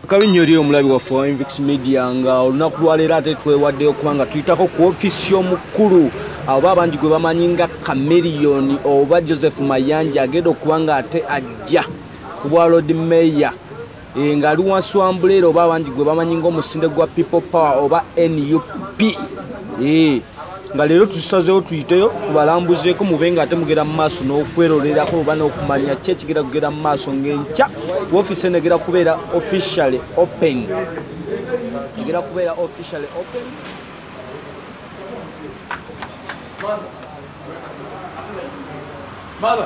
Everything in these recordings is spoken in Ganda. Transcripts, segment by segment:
kabi nnyo eri omulabi waffe wa invix media nga olunaku lwaleero ate twewaddeyo kuba nga tuyitako ku ofiisi y'omukulu oba abangi gwe bamanyi nga kameriyoni oba joseph mayanja agenda okuba nga ate ajja ku bwa lord mayor e, ngaali wansi wa mbuleera oba abangi gwe bamanyi nga omusinde gwa people power oba nup e. nga leero tusazeewo tuyiteyo tubalambuzeeko mube nga ate mugera mu maaso n'okwerolerako oba n'okumanya ki ekigera kugera mu maaso ng'enkya wofiisi eno egera kubeera officially open egera kubeera officially open Mother.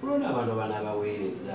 kulonda abantu abana abaweereza